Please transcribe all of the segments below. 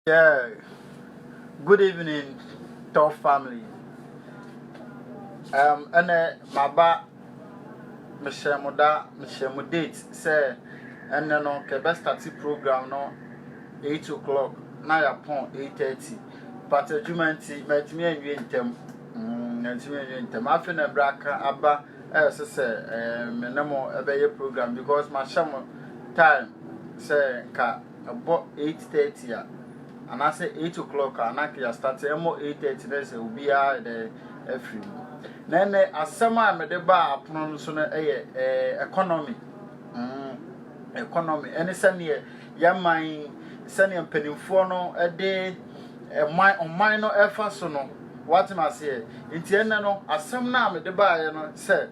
Yeah, good evening top family. Um, ɛnɛ maba mehyɛ mo da mehyɛ mo date sɛ ɛnɛ no kɛbɛ start program no eight o'clock na yɛapɔn eight thirty but adwuma nti mɛtumi anwie ntɛm mɛtumi anwie ntɛm afei na ɛbrɛ aka aba ɛyɛ sɛ sɛ ɛɛ me ne mo ɛbɛyɛ program because mahyɛ mo time sɛ nka. ɛbɔ eight thirty a anaasɛ eight o'clock a na nka yɛastate ɛmmɔ eight thirty na sɛ obiara yɛ dɛ afiri mu na ɛnɛ asɛm a mede baa apono no so no yɛ ɛɛ economy mm economy ɛne sɛdeɛ yɛman sɛdeɛ mpanimfoɔ no de ɛman ɔman no ɛfa so no watem aseɛ nti ɛnɛ no asɛm no a mede baeɛ no sɛ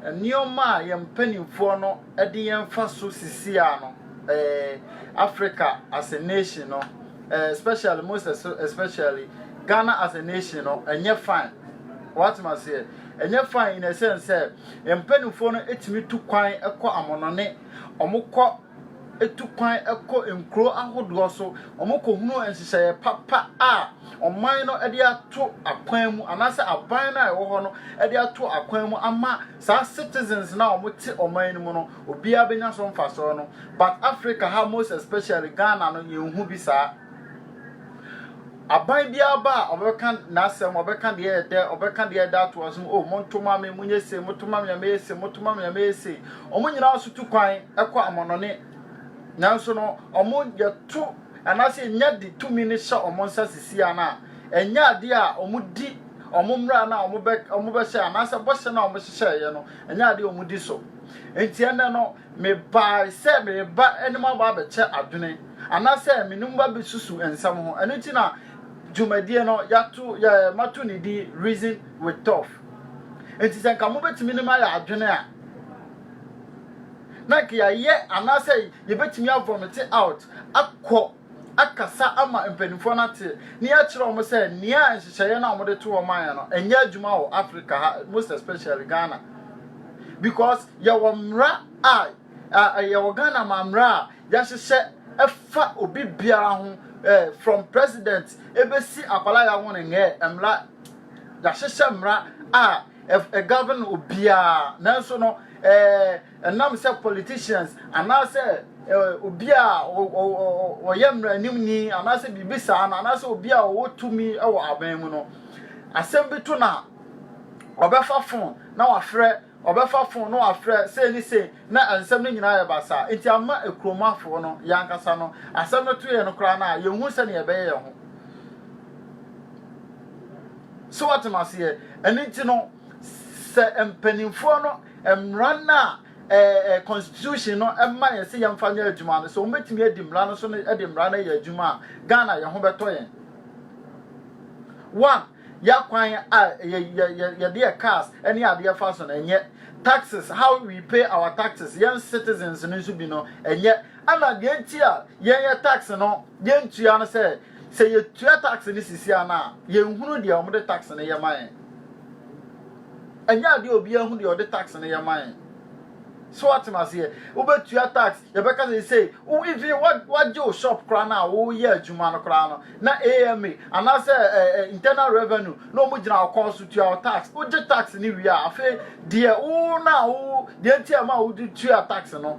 nneɛma a yɛn mpanimfoɔ no de yɛn mfaso sisi ano eh, Africa as a nation no eh, especially most especially Ghana as a nation no ɛnyɛ fine watem aseɛ ɛnyɛ fine in a sense sɛ mpanimfoɔ no ɛtumi tu kwan ɛkɔ amonɔne ɔmokɔ ɛtu kwan ɛkɔ nkuro ahodoɔ so ɔmokɔ hunu nhyehyɛeɛ papa a ɔman no ɛde ato akwan mu anaasɛ aban no a ɛwɔ hɔ no ɛde ato akwan mu ama Saa citizens no a ɔmo te ɔman no mu no obiaa bɛnya so mfasɔɔ no but Africa ha most especially Ghana no yɛn nhu bi saa. Aban biaa ba a ɔbɛka n'asɛm ɔbɛka deɛ ɛyɛ dɛ ɔbɛka deɛ ɛda toɔ so oh monto ma me monyɛ sei moto ma me a mɛyɛ sei moto ma me a mɛyɛ sei ɔmo nyinaa so tu kwan kɔ amɔnɔne nanso no ɔmo yɛto anaasɛ yɛnya de tumi no hyɛ ɔmo nsa sisiaa no a ɛnyɛ adeɛ a ɔmo di Wɔn mmara no a wɔbɛ, wɔbɛhyɛ anaasɛ bɔhyɛ no a wɔhyehyɛeɛ no, ɛnyɛ adeɛ a wɔdi so. Enti ɛnnɛ no, mebae sɛ mereba ne mo aba abɛkyɛ adwene, anaasɛ me ne mo ba bɛsusu nsɛm ho. Ɛno nti na dwumadie no, yɛato, yɛ, mato ne din Reason with Toph. Enti sɛ nka mobɛtumi ne me ayɛ adwene a, na nka yɛayɛ anaasɛ yɛbɛtumi avomete out akɔ akasa ama mpanimfoɔ no ate na yɛakyerɛ wɔn sɛ nea nhyehyɛeɛ no a wɔde to wɔn ayɛ no ɛnyɛ adwuma wɔ Africa ha most especially Ghana because yɛwɔ mmara a yɛwɔ Ghana ma mmara a yɛahyehyɛ ɛfa obi biara ho from president ebesi akwala yɛ ho ne ngɛɛ mmara yɛahyehyɛ mmara a ɛgovern obiara nanso no ɛɛ. Ɛnam sɛ politicians anaasɛ obi a ɔyɛ mmaranimni anaasɛ biribi saa no anaasɛ obi a ɔwɔ tumi wɔ aban mu no, asɛm bi to no a, ɔbɛfa fon na wafrɛ, ɔbɛfa fon na wafrɛ sei ne sei na nsɛm no nyinaa yɛ basaa. Nti ama kurom afoɔ no, yɛn ankasa no, asɛm no to yɛn no koraa no a, yɛnhu sɛdeɛ yɛbɛyɛ yɛn ho. So wɔte aseɛ? Ɛno nti no, sɛ mpanimfoɔ no mmara no a ɛɛ constitution no ma yɛn sɛ yɛmfa nyɛ adwuma no, sɛ wɔbɛtumi adi mmara no so de mmara no ayɛ adwuma a, Ghana yɛn ho bɛtɔ yɛn. One, yɛakwan a yɛde yɛ cars ne adeɛ fa so no ɛnyɛ taxes how we pay our taxes yɛn citizens no nso bi no ɛnyɛ ɛna deɛ nti a yɛn yɛ tax no yɛn tua no sɛ sɛ yɛtua tax no sisi a no a yɛn hunu deɛ wɔn de tax no yɛ ma yɛn. Ɛnyɛ adeɛ a obiara hu deɛ ɔde tax no yɛ ma yɛn. So wate me aseɛ? Wobɛtua tax, yɛbɛka sɛ sei, wo even wagye wo shop koraa no a woyɛ adwuma no koraa no, na AMA anaasɛ eh, internal revenue na wɔn gyina wo kɔn so tua wo tax. Wogye tax no wie a, afei deɛ wo na wo deɛ nti a ɛma wode tua tax no,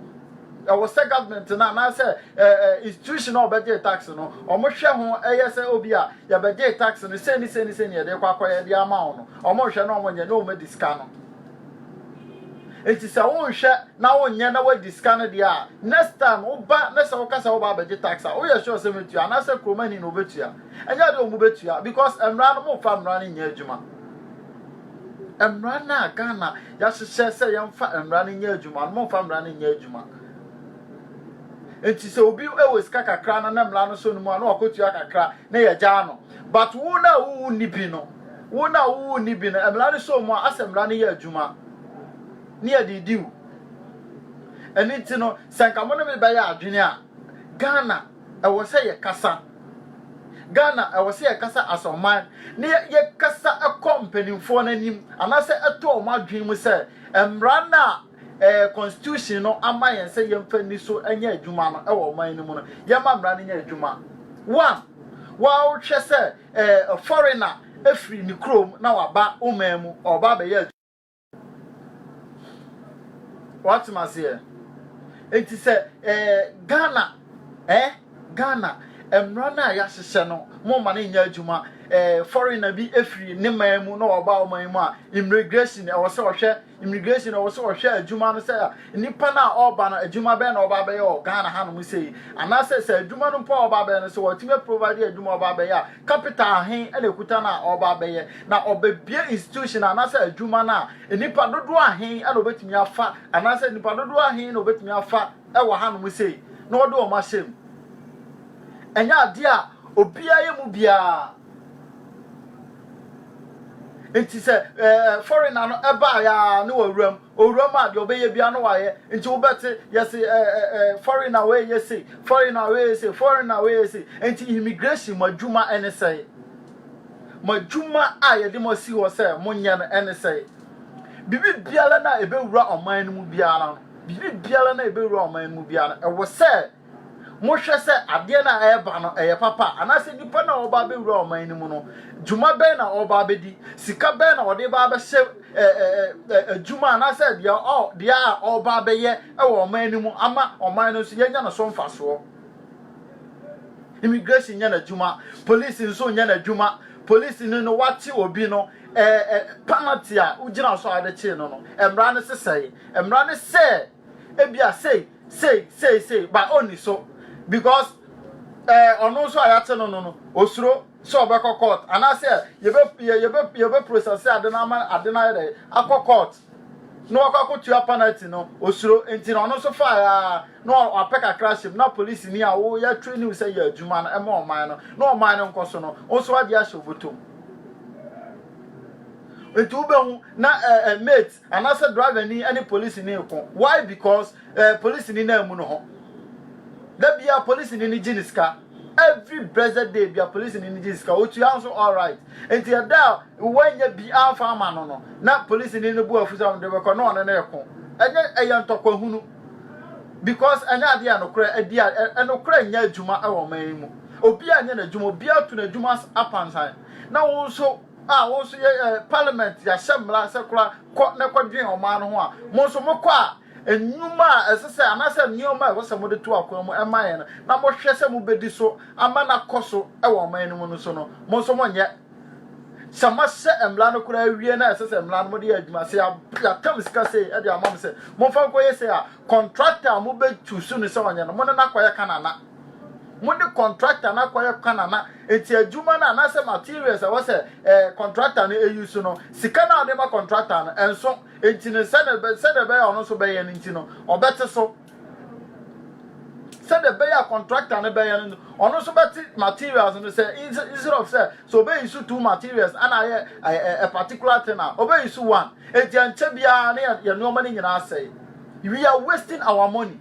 Ɛwɔ sɛ government no anaasɛ institution a ɔbɛgyee tax no, wɔhwɛ ho, ɛyɛ sɛ obi a yɛbɛgyee tax no sei ne sei ne sei ne yɛde kɔ akɔyɛ ɛde ama wɔn no, wɔhwɛ na wɔnyɛ na wɔadi sika no. Nti sɛ wonhwɛ na wonyɛ na wadi sika no deɛ a, next time woba na sɛ woka sɛ woba abɛgye tax a, woyɛ sure sɛ metua anaasɛ kuromani na obetua. Ɛnyɛ adeɛ a wɔn bɛtua because mmara no mofa mmara no nyɛ adwuma. Mmara no a Ghana yɛahyehyɛ sɛ yɛmfa mmara no nyɛ adwuma no, momfa mmara no nyɛ adwuma. Nti sɛ obi wɔ sika kakra no na mmara no so no mu a na wakɔtua kakra na yɛgyaa no. But wo no a wowu nni bi no, wo no a wowu nni bi no, mmara no so mu a asɛ mmara no yɛ adwuma ne yɛde di wo. Ɛno nti no, sɛ nka mo ne me bɛyɛ adwene a, Ghana ɛwɔ sɛ yɛkasa. Ghana, ɛwɔ sɛ yɛkasa as ɔman na yɛkasa kɔ mpanimfoɔ no anim anaasɛ ɛtɔ wɔn adwene mu sɛ mmara no a ɛɛ constitution no ama yɛn sɛ yɛmfa ni so nyɛ adwuma no ɛwɔ ɔman no mu no, yɛma mmara no nyɛ adwuma. One, woahwɛ sɛ ɛɛ foreigner ɛfiri ne kurom na waba wo man mu, ɔreba abɛyɛ adwuma. Wate me aseɛ? Enti sɛ ɛɛ Ghana ɛɛ Ghana mmara no a yɛahyehyɛ no mo ma no nyɛ adwuma ɛɛ foreigner bi efiri ne man mu na ɔba ɔman yi mu a immigration ɛwɔ sɛ ɔhwɛ immigration ɛwɔ sɛ ɔhwɛ adwuma no sɛ nipa no a ɔba no adwuma bɛyɛ na ɔba abɛyɛ wɔ Ghana hanom sɛ yi anaasɛ sɛ adwuma no mpo a ɔba abɛyɛ no sɛ wɔatumi aprovide adwuma ɔba abɛyɛ a Capital ahe na ekuta no a ɔreba abɛyɛ, na ɔbɛbue institution anaasɛ adwuma no a, nnipa dodoɔ ahe na ɔbɛtumi afa anaasɛ nnipa dodoɔ ahe na ɔbɛtumi afa wɔ hanom sei na ɔde wɔn ahyɛ mu. Ɛnyɛ adeɛ a obiara yɛ mu biara. Nti sɛ ɛɛ foreigner no ɛbaeɛ a ne wɔ awuram, Owura mu a deɛ ɔbɛyɛ biara no wayɛ nti wobɛte yɛse ɛɛ foreigner wei yɛ sei foreigner wei yɛ sei foreigner wei yɛ sei nti immigration mo adwuma ɛne sɛe mo adwuma a yɛde mo asi hɔ sɛ monyɛ no ɛne sɛe biribi biara no a ɛbɛwura ɔman no mu biara no biribi biara no a ɛbɛwura ɔman no mu biara no ɛwɔ sɛ Mohwɛ sɛ adeɛ no a ɛreba no, ɛyɛ papa a? Anaasɛ nnipa no a wɔba abɛwura ɔman no mu no, dwuma bɛn na wɔba abɛdi? Sika bɛn na wɔde ba abɛhyɛ adwuma anaasɛ deɛ a wɔba abɛyɛ wɔ ɔman no mu ama ɔman no nso yɛanya no so mfasoɔ? Immigration nyɛ n'adwuma, polisi nso nyɛ n'adwuma. Polisi no no wakye obi no, ɛɛ penalty a wogyina so a wɔde kyee no no, mmara no sesɛe. Mmara no sɛ Ebia sei, sei, sei, sei, ba onni so. Because eh, ɔno nso a yɛate no no no, osuro sɛ ɔbɛkɔ court. Anaasɛ yɛbɛ yɛbɛ yɛbɛ process ade no ama ade no ayɛ dɛ akɔ court. Na wakɔ akɔtua penalty no, osuro. Nti na ɔno nso fae a na wapɛ kakra hyem na polisi ni a wo yɛ training sɛ yɛ adwuma no ɛma ɔman no na ɔman no nkɔ so no, wo nso wagye ahyɛ obotom. Nti wobɛhu na eh, eh, mate Anaasɛ driver ni ne police ni reko why because eh police ni no ammu no ho da biaa police ni no gye ne sika every blessed day bia police ni no gye sika otua nso alright nti ɛda a wanya bi amfa ama no no na police ni no bu afu sɛ ɔde bɛkɔ na ɔne no reko ɛnyɛ ɛyɛ ntɔkwa hunu because ɛnyɛ adeɛ a nokorɛ adi a ɛnokorɛ nyɛ adwuma ɛwɔ man yi mu obi a nyɛ n'adwuma obi ato n'adwuma apansan na wo nso a wɔn nso yɛ eh, parliament yɛahyɛ mmara sɛ kora kɔ na kɔdwen ɔman no ho a mo nso mokɔ a nnwuma a ɛsɛ sɛ anaasɛ nneɛma a ɛwɔ sɛ mode to akwan mu ɛma yɛn no na mohwɛ sɛ mobɛdi so ama no akɔ so wɔ ɔman no mu no so no mo nso monyɛ sɛ moahyɛ mmara no koraa awie na ɛsɛ sɛ mmara no mode yɛ adwuma sɛ yɛatam sika sei de ama m sɛ momfa nkɔyɛ sei a kɔntrakta a mobɛtu su no sɛ ɔnyɛ no mo ne no akɔyɛ kanana mo ne contractor no akɔyɛ kwan ana nti adwuma no anaasɛ materials ɛwɔ sɛ ɛɛ contractor no eyi so no sika no a ɔde ma contractor no ɛnso nti no sɛdeɛ bɛ sɛdeɛ bɛyɛ ɔno nso bɛyɛ no nti no ɔbɛte so sɛdeɛ bɛyɛ a contractor no bɛyɛ no ɔno nso bɛte materials no sɛ instead of sɛ so ɔbɛyi so two materials ana ayɛ a, a particular thing a ɔbɛyi so one nti ɛnkyɛ biara ne yɛ nneɛma no nyinaa sɛe we are wasting our money.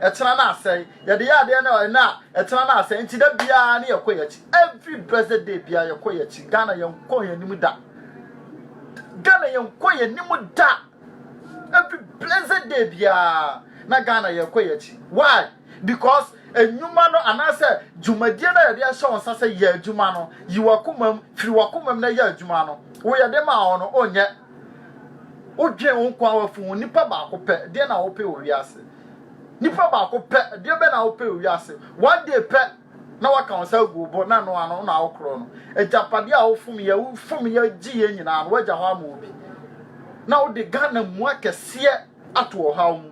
Ɛtena no asɛe. Yɛde yɛ adeɛ no ɛnɛ a, ɛtena no asɛe. Nti da biara ne yɛkɔ yɛn akyi. Every blessed day biara yɛkɔ yɛn akyi. Ghana yɛnkɔ yɛn anim da. Ghana yɛnkɔ yɛn anim da. Every blessed day biara na Ghana yɛkɔ yɛn akyi. Why? Because enyuma no anaasɛ dwumadie no a yɛde ahyɛ wɔn nsa sɛ yɛ adwuma no, yi w'akomam, firi w'akomam na yɛ adwuma no. Wo yɛde maa wɔn no, onyɛ. Wodwen wo nkoa wafunu nipa baako pɛ, deɛ na wope wɔ wiase. Nipa baako pɛ, ɛdeɛ bɛ na wopɛ wɔ wiase? One day pɛ na waka wo nsa agu wo bo na ɛno ano na wokorɔ no. Agyapadeɛ a wofomyɛ, wofomyɛ gyeeɛ nyinaa no wagya hɔ ama obi. Na wode Ghana mua kɛseɛ ato ɔhaw mu.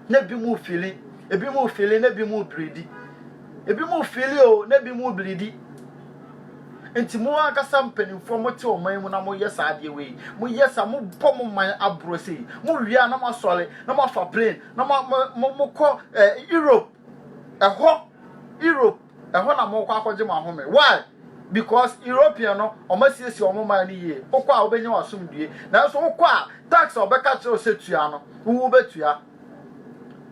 Na ebi mu fili, ebi mu fili, na ebi mu biridi. Ebi mu fili o, na ebi mu biridi. Enti mo ankasa mpanimfoɔ a mote ɔman mu na moyɛ saa adeɛ wei, moyɛ saa, mobɔ mo man aborɔ sei, mowie a na moasɔre na moafa plane na mo mo mo mokɔ eh, Europe ɛhɔ Europe ɛhɔ na mokɔ akɔgye mo ahome why because European no wɔn asiesie wɔn man no yie wokɔ a wobɛnya w'asomdue nanso wokɔ a tax a wɔbɛka kyerɛ wo sɛ tua no wo wobɛtua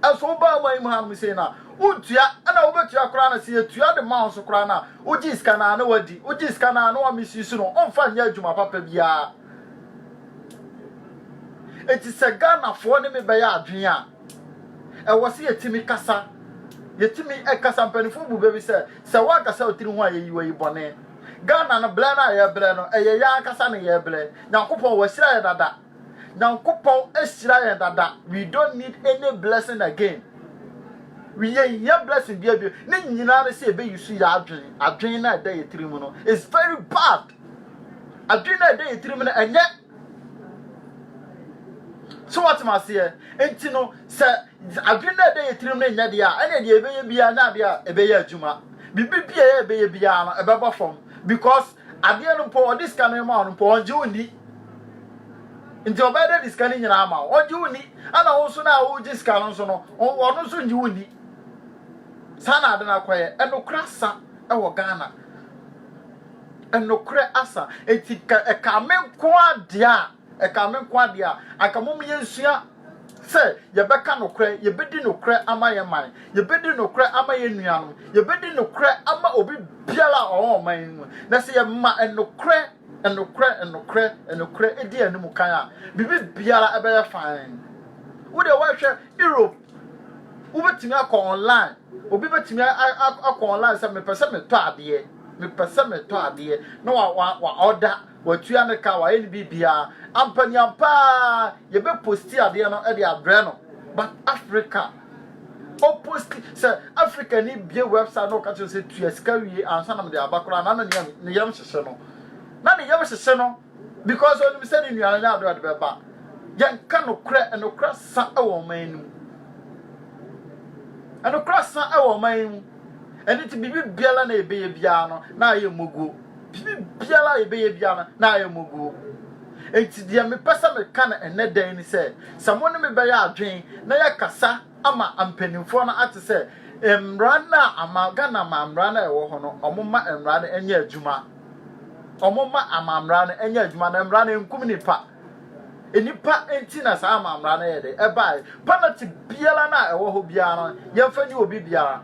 Ɛso wobaa aman yi mu hanom sei na wontua ɛna wobɛtua koraa na sɛ yɛtua de ma wo so koraa na wogye sika naa na wadi wogye sika naa na wamisuse no ɔmfa nyɛ adwuma papa biara eti sɛ Ghanafoɔ ne me bɛyɛ adwene a ɛwɔ sɛ yɛtumi kasa yɛtumi ɛkasa mpanimfoɔ bu bɛ bi sɛ sɛ woankasa wo tiri ho a yɛyi wayi bɔne Ghana no blɛ no a yɛbrɛ no ɛyɛ yɛn ankasa ne yɛbrɛ Nyankopɔn wahyira yɛ dada Nyankopɔn ahyira yɛn dada, we don't need any blessing again. Yɛnhia blessing bia bio. Ne nyinaa ne sɛ yɛbɛyi so yɛ adwene. Adwene no a ɛda yɛ tirim no is very bad. Adwene no a ɛda yɛ tirim no ɛnyɛ so wɔtem aseɛ nti no sɛ adwene no a ɛda yɛ tirim no nyɛ deɛ a ɛne deɛ ɛbɛyɛ biara ne adeɛ a ɛbɛyɛ adwuma biribi biara ɛbɛyɛ biara no ɛbɛbɔ fam because Adeɛ no mpo ɔde sika no rema wo no mpo ɔngye wo nni. Nti ɔbɛyɛ dɛ de sika no nyinaa ama wo. Ɔngye wo nni. Ɛna wo nso no a wogye sika no nso no, ɔno nso ngye wo nni. Saa na ade no akɔyɛ. Ɛnokorɛ asa wɔ Ghana. Ɛnokorɛ asa. Nti ɛka me nko ara deɛ a Ɛkame nko ara deɛ a, anka mom yɛnsua sɛ yɛbɛka nokorɛ, yɛbɛdi nokorɛ ama yɛn man, yɛbɛdi nokorɛ ama yɛn nuanom, yɛbɛdi nokorɛ ama obi biara a ɔwɔ ɔman yi mu. Na sɛ yɛma nokorɛ, nokorɛ, nokorɛ, nokorɛ di yɛn anim kan a, biribi biara ɛbɛyɛ fann. Wo deɛ woahwɛ Europe, wobɛtumi akɔ online, obi bɛtumi akɔ online sɛ mepɛ sɛ metɔ adeɛ, mepɛ sɛ metɔ adeɛ, na wa wa wa ɔda. Watua ne ka, wayɛ ne biribiaa. Ampa ni ampa ara yɛbɛ posti adeɛ no de abrɛ no but Africa ɔposti sɛ Africa ni bie website na ɔka kyerɛ sɛ tua sika wie ansa na mede aba koraa na na ne yam hyehye no na ne yam hyehye no because ɔnim sɛ ne nua no nyɛ ade ɔde bɛba yɛnka nokorɛ nokorɛ sa wɔ ɔman no mu nokorɛ sa wɔ ɔman yi mu. Ɛno nti, biribiara na yɛbɛyɛ biara no, na ayɛ mmoguo. Biribiara a yɛbɛyɛ biara no, na ayɛ mmoguo. Enti deɛ mepɛ sɛ meka no ɛnnɛ da yi ne sɛ, sɛ mo ne me bɛyɛ adwene na yɛakasa ama mpanimfoɔ no ate sɛ mmara no a ama, Ghana amammara no a ɛwɔ hɔ no, wɔmma mmara no nyɛ adwuma. Wɔmma amammara no nyɛ adwuma na mmara no nkum nnipa. Nnipa nti na saa amammara no yɛ dɛ ɛbae. Penalty biara no a ɛwɔ hɔ biara no, yɛmfa ni obi biara.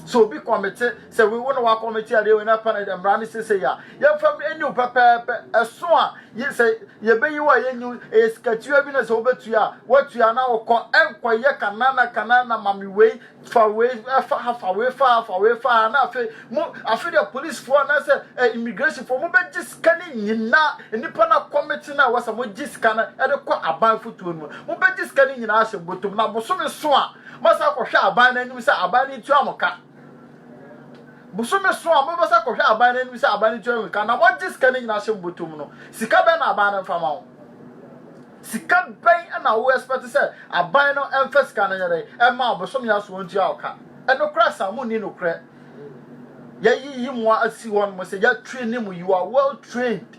Sɛ obi kɔmete, sɛ wo na wakɔmete adeɛ wei na penalty mmara no sese a, yɛmfa ni wo pɛpɛɛpɛ. Ɛso a, sɛ yɛbɛyi wo a yɛnyi wo, ɛyɛ sikatua bi na sɛ wobɛtua a, woatua na wokɔ, ɛnkɔyɛ kanana kanana ma me wei, fa wei fa ha fa wei fa ha fa wei fa ha na afei mo afei deɛ polisifoɔ anaasɛ ɛ eh, immigrationfoɔ mo bɛgye sika no nyinaa nnipa no akɔmete no a wɔsɛ mo gye sika no de kɔ aban fotuo no mu mo bɛgye sika no nyinaa ahyɛ botom na bosome so a moasa akɔhwɛ aban no anim sɛ aban no ntua mo ka bosome so a mobɛsa akɔhwɛ aban no anim sɛ aban no ntua mo ka na moagye sika no nyinaa ahyɛ botom no sika bɛn na aban no mfa ma wo Sika bɛn na wo expect sɛ aban no mfa sika no nyɛ dɛn ɛma wo, bosome a so wɔn tua wo ka? Ɛno koraa saa mo nni nokorɛ. Yɛayiyi mo asi hɔ nom sɛ yɛatraini mo, you are well trained.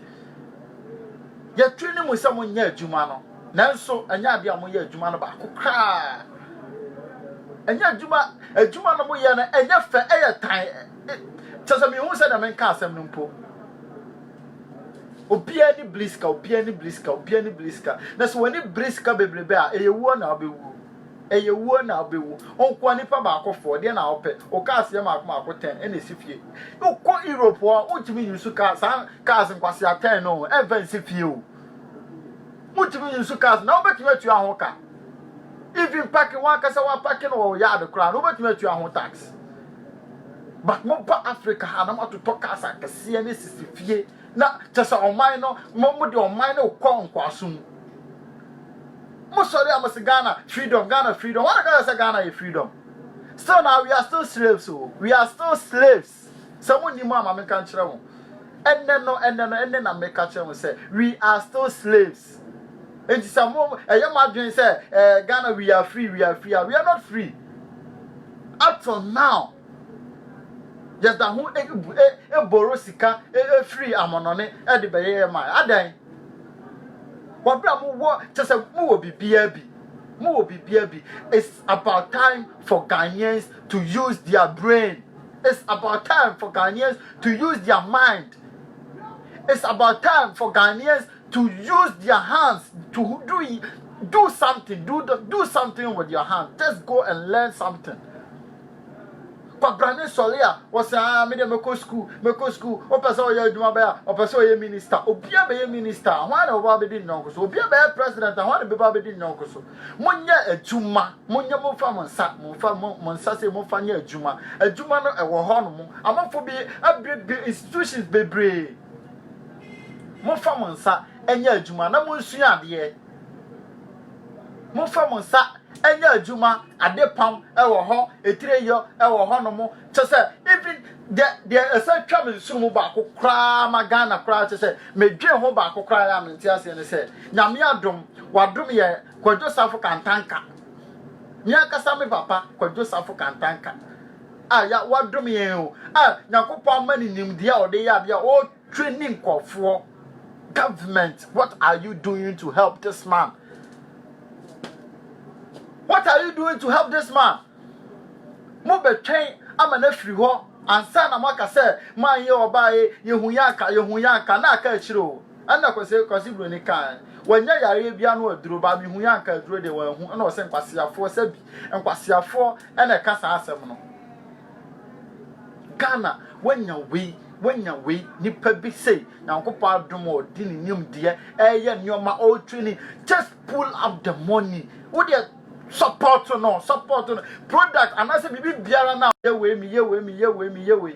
Yɛatraini mo sɛ mo nyɛ adwuma no, nanso ɛnyɛ adeɛ a mo yɛ adwuma no baako koraa. Ɛnyɛ adwuma, adwuma no mo yɛ no ɛnyɛ fɛ, ɛyɛ tan. Kyɛ sɛ mehu sɛ deɛ menka asɛm no mpo. Obiara ani bere sika, obiara ani bere sika, obiara ani bere sika. Na sɛ w'ani bere sika bebrebe a, ɛyɛ wuo na wobɛwuo. Ɛyɛ wuo na wobɛwuo. Wonkoa nipa baako foɔ, deɛ na wopɛ. Wo cars yɛ mmaako mmaako ten ɛna ɛsi fie. Wokɔ Europe hɔ a, wontumi nyusu car, saa cars nkwasea ten no, ɛmfa nsi fie o. Wontumi nyusu cars, na wobɛtumi atua ho ka. Even parking, wankasa wapake no wɔ yard koraa, na wobɛtumi atua ho tax. But mo ba Africa ha na mo atotɔ cars akɛseɛ ne sisi fie na kyɛ sɛ ɔman no mo mo de ɔman no kɔ nkwaso mu. Mo sɔre a mo se Ghana freedom Ghana freedom wɔn aka sɛ Ghana yɛ freedom. Still na we are still slaves o oh. we are still slaves. Sɛ mo nim a ma me nka nkyerɛ mo. Ɛnɛ no ɛnɛ no ɛnɛ na me ka kyerɛ mo sɛ we are still slaves. Enti sɛ mo ɛyɛ mo adwene sɛ eh, Ghana we are free, we are free a, we are not free. Up to now, yɛda ho eboro sika efiri amonɔne ɛde bɛyɛ yɛ maa adan. Wɔbɛ a mo wɔ kyɛ sɛ mo wɔ biribiara bi, mo wɔ biribiara bi. It's about time for Ghanaians to use their brain. It's about time for Ghanaians to use their mind. It's about time for Ghanaians to use their hands to do do something do do something with your hand just go and learn something kwabrane sɔre a wɔsɛ a ah, mede mɛkɔ sukuu mɛkɔ sukuu wɔpɛ sɛ ɔyɛ adwuma bɛyɛ a ɔpɛ sɛ ɔyɛ minista obia bɛyɛ minista ho a na wɔba abɛdi nnɔnko so obia bɛyɛ president ho a na bɛba abɛdi nnɔnko so monyɛ adwuma monyɛ momfa mo nsa momfa mo nsa sɛ momfa nyɛ adwuma adwuma no ɛwɔ hɔ no mo amafo bi abiribiri institutions bebree Momfa mo nsa nyɛ adwuma na monsua adeɛ. Momfa mo nsa nyɛ adwuma, adepam wɔ hɔ, etireyɔ wɔ hɔnom. Kyɛ sɛ even deɛ deɛ ɛsɛ twa me nsunumu baako koraa ma Ghana koraa kyɛ sɛ medwen ho baako koraa yɛ a mente aseɛ ne sɛ Nyame adom wadom yɛ Kwadwo Safo Kantanka. Me ankasa me papa Kwadwo Safo Kantanka. a ya wadom yɛn o a nyankopɔn ama ne nimdeɛ a ɔde yɛ adeɛ a ɔtwe ne nkɔfoɔ government what are you doing to help this man what are you doing to help this man mobɛtwɛn ama no afiri hɔ ansa na moaka sɛ mayɛ ɔbaeɛ yɛhu yɛ anka yɛhu yɛ anka na aka akyire o Ɛna kwase kwase broni kae wanya yareɛ bia no aduro baa mehuiɛ anka aduro deɛ wanhu ɛna ɔsɛ nkwaseafoɔ sɛbi nkwaseafoɔ ɛna ɛka saa asɛm no Ghana wanya wei wanya wei nipa bi sei nyankopɔn adom a ɔde ne nimdeɛ ɛyɛ nneɛma ɔretwini just pull up the money wo deɛ support no support no product anaasɛ biribi biara no a yɛ wei mi yɛ wei mi yɛ wei mi yɛ wei